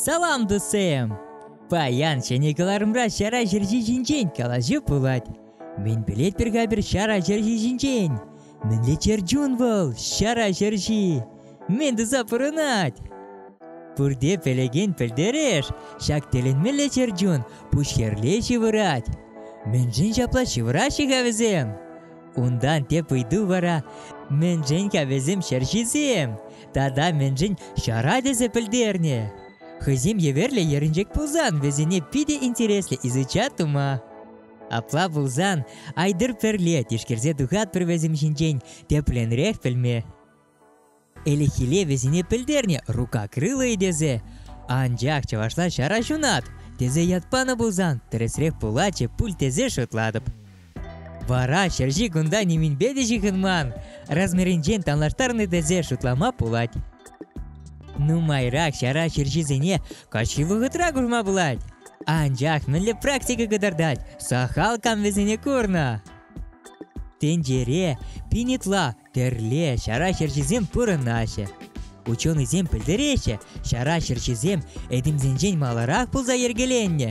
Салам, дусем! Паян ҫӗнӗ кӑларӑмра ҫара ҫерҫи ҫинчен калаҫу пулать. Мӗн пӗлет пӗр-ка пӗр ҫара ҫерҫи ҫинчен? Мӗнле чӗрчун вӑл, ҫара ҫерҫи? Мӗн туса пурӑнать? Пурте пӗлекен пӗлтереш, ҫак тӗлӗнмелле чӗрчун пуҫ хӗрле ҫывӑрать. Мӗншӗн ҫапла ҫывӑраҫҫӗ-ха вӗсем? Унтан тӗп ыйту вара мӗншӗн кавӗсем ҫерҫисем тата мӗншӗн ҫара тесе пӗлтернӗ. Хӑйсем еверлӗ ерӗнчек пулсан вӗсене питӗ интереслӗ изучать тума. Апла пулсан Айдыр пӗрле тишкерсе тухатпӑр вӗсем ҫинчен тепленрех пӗлме. Ӗлӗкхилле вӗсене пӗлтернӗ рука крылӑйӗ тесе. Анчах чӑвашла ҫара ҫунат тесе ят панӑ пулсан тӗрӗсрех пулатчӗ пуль тесе шутлатӑп. Вара ҫерҫи кунта нимӗнпе те ҫыхӑнман, размерӗнчен танлаштарнӑ тесе шутлама пулать. Нумайрах ҫара ҫерҫисене каҫхи вӑхӑтра курма пулать. Анчах мӗнле практика кӑтартать сахал кам вӗсене курнӑ? Тӗнчере пин ытла Тӗрле ҫара ҫерҫисем пурӑнаҫҫӗ. Ученӑйсем пӗлтереҫҫӗ, ҫара ҫерҫисем этемсенчен маларах пулса йӗркеленнӗ.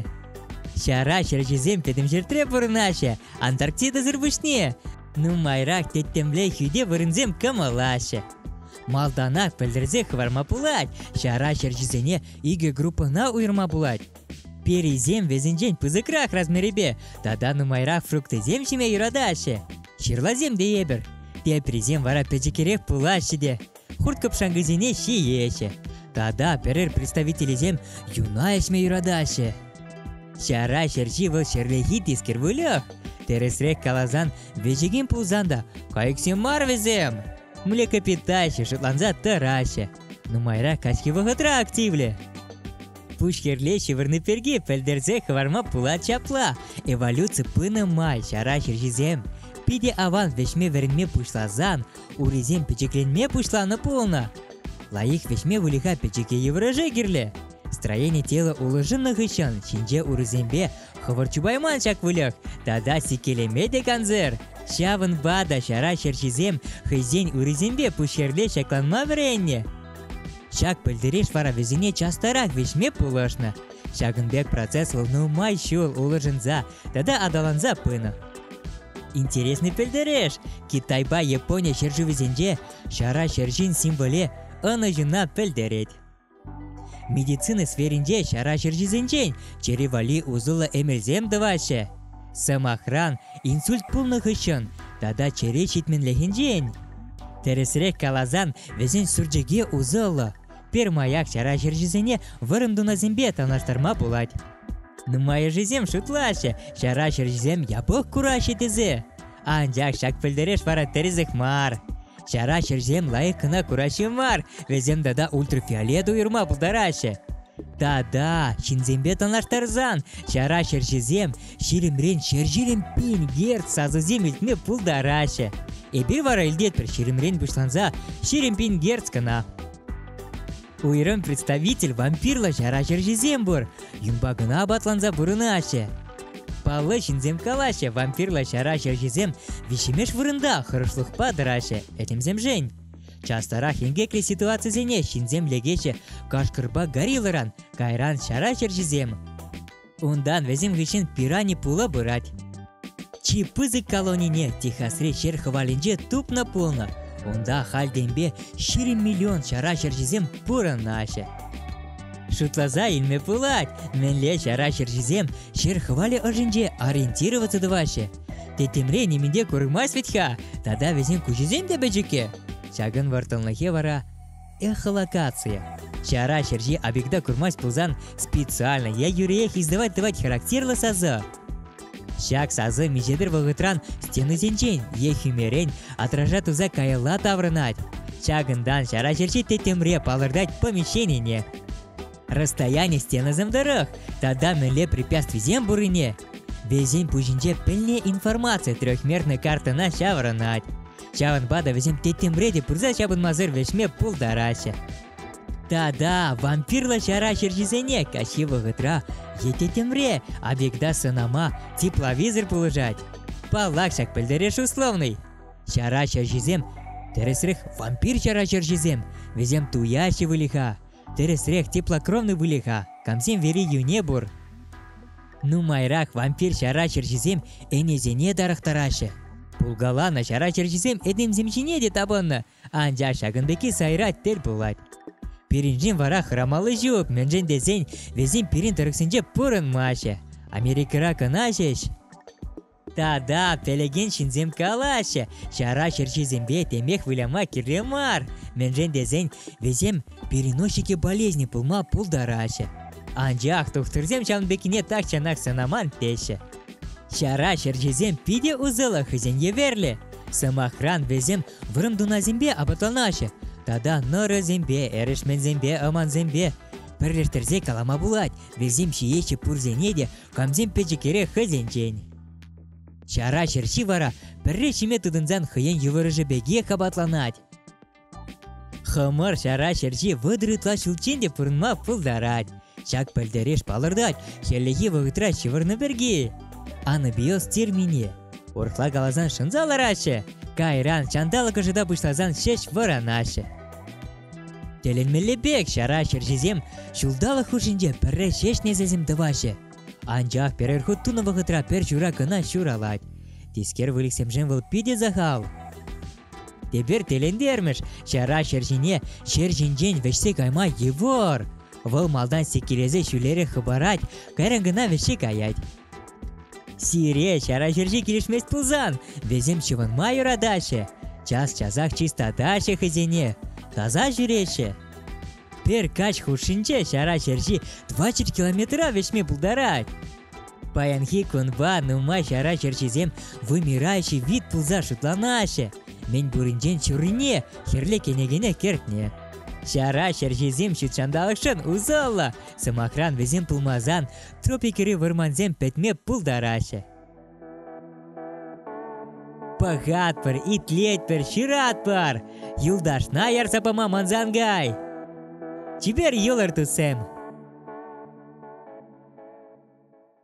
Ҫара ҫерҫисем пӗтӗм ҫӗртре пурӑнаҫҫӗ, Антарктидӑсӑр пуҫне. Нумайрах тӗттӗмле хӳте вырӑнсем кӑмӑлаҫҫӗ. Малтанах пӗлтерсе хӑварма пулать, ҫара ҫерҫисене икӗ группӑна уйӑрма пулать. Перисем вӗсенчен пысӑкрах размерӗпе тата нумайрах фруктисем ҫиме юратаҫҫӗ. Ҫырласем те эпир. Теприсем вара пӗчӗкрех пулаҫҫӗ те хурт-кӑпшанкӑсене ҫиеҫҫӗ. Тата пӗрер представителӗсем юна ӗҫме юратаҫҫӗ. Ҫара ҫерҫи вӑл ҫӗрлехи тискер выльӑх. Тӗрӗсрех каласан, вӗҫекен пулсан та кайӑксем мар вӗсем. Млекопитаҫҫӗ шутланса тӑраҫҫӗ. Нумайрах каҫхи вӑхӑтра активлӗ. пушхӗрле ҫывӑрни пирки пӗлтерсе хӑварма пулать ҫапла. Эволюци пынӑ май ҫара ҫерҫисем питӗ аван вӗҫме вӗренме пуҫласан урисем пӗчӗкленме пуҫланӑ пулнӑ. Лайӑх вӗҫме выльӑха пӗчӗке йывӑрӑша кирлӗ. Строени тела улшӑннӑ хыҫҫӑн ҫинҫе урисемпе хӑвӑрт чупайман ҫак выльӑх тата сиккелеме те кансӗр. Ҫавӑнпа та ҫара ҫерҫисем хӑйсен урисемпе пушхӗрле ҫакланма вӗреннӗ. Ҫак пӗлтереш вара вӗсене частарах вӗҫме пулӑшнӑ. Ҫакӑн пек процесс вӑл нумай ҫул улшӑнса тата аталанса пынӑ. Интересный пӗлтереш! Китайпа Япони ҫӗршывӗсенче ҫара ҫерҫин символе ӑнӑҫуна пӗлтерет. Медицина сферинче ҫара ҫерҫисенчен чӗри валли усӑллӑ эмелсем тӑваҫҫӗ. Сӑмахран, инсульт пулнӑ хыҫҫӑн тата чӗре ҫитменлӗхӗнчен. Тӗрӗсрех каласан, вӗсен сурчӑкӗ усӑллӑ. Пермаяк ҫара ҫерҫисене вӑрӑм тунасемпе танлаштарма пулать. Нумайӑшӗсем шутлаҫҫӗ, ҫара ҫерҫисем япӑх кураҫҫӗ тесе. Анчах ҫак пӗлтереш вара тӗрӗсех мар. Ҫара ҫӗрсем лайӑх кӑна кураҫҫӗ мар, вӗсем тата ультрафиолет уйӑрма пултараҫҫӗ. Тата, ҫынсемпе танлаштарсан, ҫара ҫерҫисем ҫирӗмрен ҫерҫирен пин герц сасӑсем илтме пултараҫҫӗ. Эпир вара илтетпӗр ҫирӗмрен пуҫланса ҫирӗм пин герц кӑна. Уйрӑм представитель вампирлӑ ҫар ачӑрҫисем пур. Юнпа кӑна апатланса пурӑнаҫҫӗ. Паллӑ ҫынсем калаҫҫӗ, вампирлӑ ҫар ачӑрҫисем виҫҫӗмеш вырӑнта хӑрушлӑхпа тӑраҫҫӗ этемсемшен. Частарах инкеклӗ ситуацисене ҫынсем лекеҫҫӗ кашкӑрпа гориллӑран, кайран ҫар ачӑрҫисем. Унтан вӗсем хыҫҫӑн пирани пула пырать. Чи пысӑк колонине Техасри ҫер хӑвалӗнче тупнӑ пулнӑ. Унта хальтенпе ҫирӗм миллион ҫара ҫерҫисем пурӑнаҫҫӗ. Шутласа илме пулать, мӗнле ҫара ҫерҫисем ҫер хӑвалӗ ӑшӗнче ориентироваться тӑваҫҫӗ. Тӗттӗмре нимӗн те курӑмасть вӗт-ха, тата вӗсен куҫӗсем те пӗчӗккӗ. Ҫакӑн вӑрттӑнлӑхӗ вара Эхолокация. Ҫара ҫерҫи объекта курмасть пулсан специально е юриех издавать-тӑвать характерлӑ сасӑ. Ҫак сасӑ миҫедер вӑхӑтран стенисенчен е хӳмерен отража туса каялла таврӑнать. Ҫакӑнтан ҫара ҫерҫи тӗттӗмре палӑртать помещенине. Расстояние стенасем тӑрӑх тата мӗнле препятствисем пуррине вӗсен пуҫӗнче пӗлнӗ информаци трехмерной картӑна ҫаврӑнать. Ҫавӑнпа та вӗсем тӗттӗмре те пырса ҫапӑнмасӑр вӗҫме пултараҫҫӗ. Тата вампирлӑ ҫара ҫерҫисене каҫхи вӑхӑтра е тӗттӗмре объекта сӑнама тепловизор пулӑшать. Паллах, ҫак пӗлтереш условный. Ҫара ҫерҫисем, тӗрӗсрех, вампир ҫара ҫерҫисем, вӗсем туяҫҫӗ выльӑха. Тӗрӗсрех теплокровный выльӑха камсем вери йӳне пур. Нумайрах вампир ҫара чӗрҫисем ӗнесене тарӑхтараҫҫӗ. Пулкаланӑ ҫара чӗрҫисем этемсем ҫине те тапӑннӑ, анчах ҫакӑн пекки сайра тӗл пулать. Пирӗншӗн вара хӑрамалли ҫук, мӗншӗн тесен вӗсем пирӗн тӑрӑхсенче пурӑнмаҫҫӗ. Америкӑра кӑна ҫеҫ. Та-да, пӗлекен ҫынсем калаҫҫӗ, ҫара ҫерҫисемпе темех выляма кирлӗ мар. Мӗншӗн тесен вӗсем переносчики болезни пулма пултараҫҫӗ. Анчах тухтӑрсем ҫавӑн пеккине тахҫанах сӑнаман теҫҫӗ. Ҫара ҫерҫисем питӗ усӑллӑ хӑйсен еверлӗ. Сӑмахран, вӗсем вӑрӑм тунасемпе апатланаҫҫӗ тата нӑрӑсемпе, эрешменсемпе, ӑмансемпе. Пӗрлештерсе калама пулать, вӗсем ҫиеҫҫӗ пурсене те Камсем пӗчӗкерех хӑйсенчен. Ҫара ҫерҫи вара пӗрре ҫиме тытӑнсан хӑйен йывӑрӑшӗ пекех апатланать. Хӑмӑр ҫара ҫерҫи вӑтӑр ытла ҫулччен те пурӑнма пултарать. Ҫак пӗлтереш палӑртать хӗллехи вӑхӑтра ҫывӑрнӑ пирки. Анабиоз термине урӑхла каласан шӑнса лараҫҫӗ, кайран ҫанталӑк ӑшӑта пуҫласан ҫеҫ вӑранаҫҫӗ. Тӗлӗнмелле пек ҫара ҫерҫисем ҫулталӑк хушшинче пӗрре ҫеҫ несӗлсем тӑваҫҫӗ. Анчах пӗрер хут тунӑ вӑхӑтра пӗр ҫура кӑна ҫуралать. Тискер выльӑхсемшӗн вӑл питӗ сахал. Тепер тӗлӗнтермӗш, ҫара ҫерҫине ҫер ҫинчен вӗҫсе кайма йывӑр. Вӑл малтан сиккелесе ҫӳлерех хӑпарать, кайран кӑна вӗҫсе каять. Сире ҫара ҫерҫи килӗшмест пулсан, вӗсем ҫӑвӑнма юратаҫҫӗ. Час-часах чистатаҫҫӗ хӑйсене, таса ҫӳреҫҫӗ. Пӗр каҫ хушшинче ҫара ҫерҫи 20 километра вӗҫме пултарать. Паянхи кунпа нумай ҫара ҫерҫисем вымираҫҫӗ вит пулса шутланаҫҫӗ. Мӗн пуринчен ҫуррине хӗрлӗ кӗнекене кӗртнӗ. Ҫара ҫерҫисем ҫутҫанталӑкшӑн усӑллӑ. Сӑмахран, вӗсем пулмасан тропикри вӑрмансем пӗтме пултараҫҫӗ. Пӑхатпӑр, итлетпӗр, ҫыратпӑр, юлташна ярса пама мансан кай. Чипер йӑлӑр, туссем!